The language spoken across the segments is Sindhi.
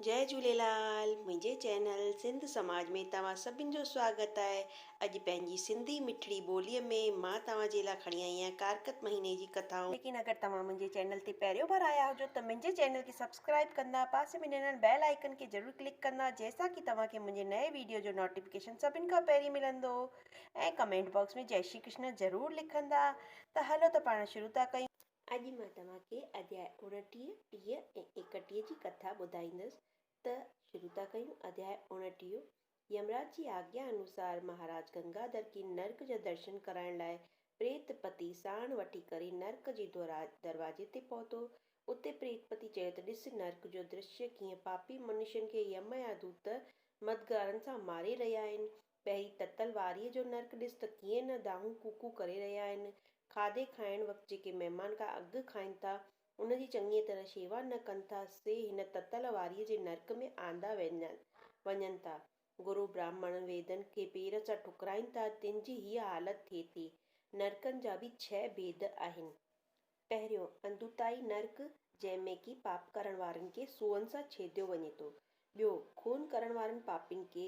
جئي جهوليلال منهنجي چينل سنڌ سماج ۾ توهان سڀن جو سواگت آهي اڄ پنهنجي سنڌي مٺڙي ٻولي ۾ مان توهان جي لا کڻي آئي آهيان ڪارڪت مهيني جي ڪٿائون. ليڪن اگر توهان منهنجي چينل تي پهريون ڀر آيا هجو ته منهنجي چينل کي سبسڪرائب ڪندا پاسي ۾ ڏنل بيل آئيڪن کي ضرور ڪلڪ ڪندا جنهن سان ڪي توهان کي منهنجي نئين ويڊيو جو نوٽيفڪيشن سڀن کان پهرين ملندو ۽ ڪمينٽ باڪس ۾ جئي شري ڪرشن ضرور لکندا ته هلو ته پاڻ شروع ٿا ڪيون اڄ مان توهان کي اڌيائي اوڻٽيهه، ٽيهه ۽ ايڪٽيهه جي ڪٿا ٻڌائيندس ته شروع ٿا ڪيون اڌيائي اوڻٽيهه، يمراج جي آگيا انوسار مهاراج گنگاڌر کي نرڪ جا درشن ڪرائڻ لاء پريت پتي ساڻ وٺي ڪري نرڪ جي دروازي تي پهتو، اتي پريت پتي چيو ته ڏس نرڪ جو درشيه ڪيئن پاپي منشين کي يم جا دوت مددگارن سان ماري رهيا آهن پهرين تتل واريء جو نرڪ ڏس ته ڪيئن نه دانهون ڪوڪون ڪري رهيا آهن. کاڌي کائڻ وقت جيڪي مهمان کان اڳ کائن ٿا، ان جي چڱيء طرح شيوا نه ڪن ٿا، سي هن تتل واريء جي نرڪ ۾ آندا وڃن ٿا. گرو براهمڻن ويدن کي پير سان ٺڪرائين ٿا، تن جي هيء حالت ٿئي ٿي. نرڪن جا به ڇهه ڀيد آهن. پهريون، اندوتائي نرڪ، جنهن ۾ ڪي پاپ ڪرڻ وارن کي سوئن سان ڇيديو وڃي ٿو. ٻيو، خون ڪرڻ وارن پاپين کي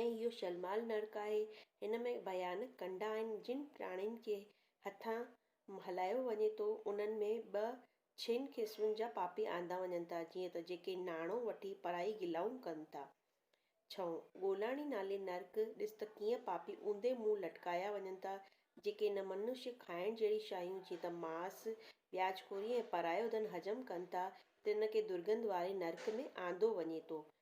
۽ اهو شلمال نرڪ آهي، هن ۾ ڀيانڪ ڪنڊا آهن، جن پراڻين کي هٿان هلايو وڃي ٿو، انهن ۾ ٻه ڇهن قسمن جا پاپي آندا وڃن ٿا، جيئن ته جيڪي ناڻو وٺي پرائي گلائون ڪن ٿا. ڇهون، ڳولاڻي نالي نرڪ، ڏس ته ڪيئن پاپي اونڌي منهن لٽڪايا وڃن ٿا، جيڪي نه منشي کائڻ جهڙي شيون جيئن ته ماس، وياج خوري ۽ پرايو ڌن حجم ڪن ٿا، تن کي درگنڌ واري نرڪ ۾ آندو وڃي ٿو،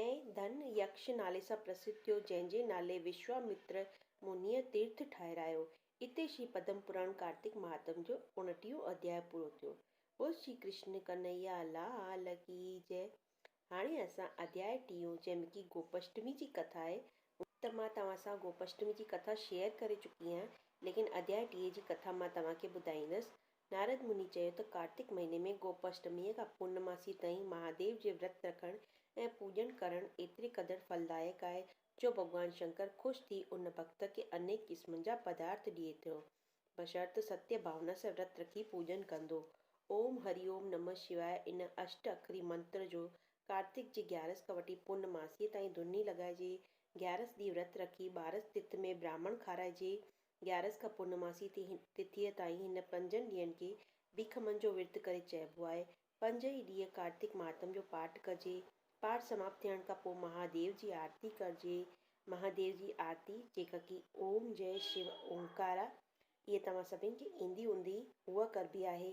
۽ ڌن يڪش نالي سان پرسڌ ٿيو، جنهن جي نالي وشوامتر منهيء تيرٿ ٺاهرايو. اتي شري پدم پراڻ ڪارتڪ مهاتم جو اوڻٽيهون اڌياء پورو ٿيو. بول شري ڪرشن ڪنهيا لال ڪي جئه. هاڻي اسان اڌياء ٽيون جنهن ۾ ڪي گوپشٽمي جي ڪٿا آهي، ان. ته مان توهان سان گوپشٽمي جي ڪٿا شيئر ڪري چڪي آهيان، ليڪن اڌياء ٽيهه جي ڪٿا مان توهان کي ٻڌائيندس، نارد مني چيو ته ڪارتڪ مهيني ۾ گوپاشٽميء کان پورنماسيء تائين مهاديو جي ورت رکڻ ۽ پوڄڻ ڪرڻ ايتري قدر ڦلدائڪ آهي جو ڀڳوان شنڪر خوش ٿي ان ڀڳت کي انيڪ قسمن جا پدارٿ ڏئي ٿو بشرط ستيه ڀاونا سان ورت رکي پوڄن ڪندو. اوم هري اوم نمه شواء ان اشٽ اکري منتر جو ڪارتڪ جي گيارس کان وٺي پورنماسيء تائين ڌوني لڳائجي گيارس ڏينهن ورت رکي ٻارس تٿ ۾ براهمڻ کارائجي گيارس کان پورنماسي تي هن تٿيء تائين هن پنجن ڏينهن کي ڀيکمن جو ورت ڪري چئبو آهي. پنج ئي ڏينهن ڪارتڪ مهاتم جو پاٺ ڪجي. پاٺ سماپت ٿيڻ کان پوء مهاديو جي آرتي ڪرجي. مهاديو جي آرتي جيڪا ڪي اوم جئه شو اومڪارا اهي توهان سڀن کي ايندي هوندي اها ڪربي آهي.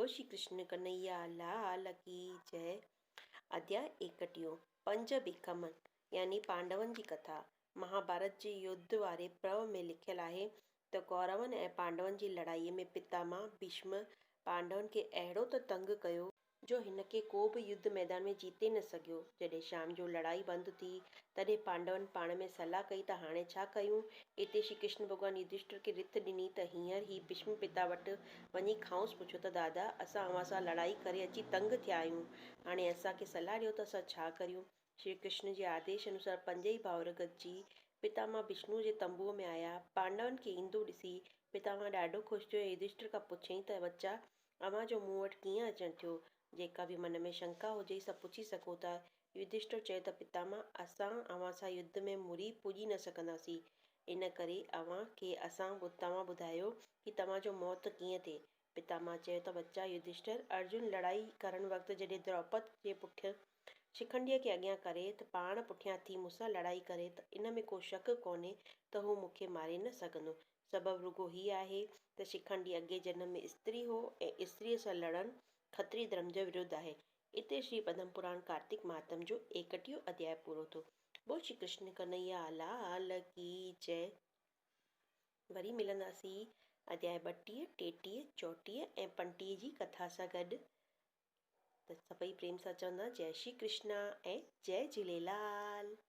بول شري ڪرشن ڪنهيا لال ڪي جئه اديا ايڪٽيون پنج ڀيڪم يعني پانڊون جي ڪٿا مهاڀارت جي يڌ واري پرو ۾ لکيل آهي ته ڪورون ۽ پانڊون جي لڙائي ۾ پتاماء ڀيشم پانڊون کي اهڙو ته تنگ ڪيو جو هن کي ڪو به يڌ ميدان ۾ جيتي نه سگهيو جڏهن شام جو لڙائي بند ٿي تڏهن پانڊون پاڻ ۾ صلاح ڪئي ته هاڻي ڇا ڪيون اتي شري ڪرشن ڀڳوان يڌشٽر کي رٿ ڏني ته هينئر هي ڀيشم پتا وٽ وڃي کانئس پڇيو ته دادا اسان اوهان سان لڙائي ڪري اچي تنگ ٿيا آهيون هاڻي اسان کي صلاح ڏيو ته اسان ڇا ڪريون؟ شري ڪرشن جي آديش انوسار پنجئي ڀائر گڏجي پتاماهه وشنوء جي تنبوء ۾ آيا. پانڊون کي ايندو ڏسي پتاماهه ڏاڍو خوش ٿيو ۽ يڌشٽر کان پڇيائين ته ٻچا اوهان جو مون وٽ ڪيئن اچڻ ٿيو؟ جيڪا به من ۾ شنڪا هجي سا پڇي سگهو ٿا. يڌشٽر چيو ته پتامه! اسان اوهان سان يڌ ۾ مري پڄي نه سگهنداسين، ان ڪري اوهان کي اسان توهان ٻڌايو ڪي توهان جو موت ڪيئن ٿئي؟ پتامه چيو ته ٻچا يڌشٽر! ارجن لڙائي ڪرڻ وقت جڏهن دروپد جي پٺيان شڪنڊيء کي اڳيان ڪري ته پاڻ پٺيان ٿي مون سان لڙائي ڪري ته ان ۾ ڪو شڪ ڪونهي ته هو مون کي ماري نه سگهندو. سبب رڳو هي آهي ته شڪنڊي اڳئين جنم ۾ استري هو ۽ استريء سان لڙڻ کتري ڌرم جي ورڌ آهي. اتي شري پدم پراڻ ڪارتڪ مهاتم جو ايڪٽيهون اڌياء پورو ٿيو. بول شري ڪرشن ڪنهيا لال ڪي جئه. وري ملنداسين اڌياء ٻٽيهه، ٽيٽيهه، چوٽيهه ۽ پنٽيهه جي ڪٿا سان گڏ ته سڀئي پريم سان چوندا جئه شري ڪرشنا ۽ جئه جهليلال.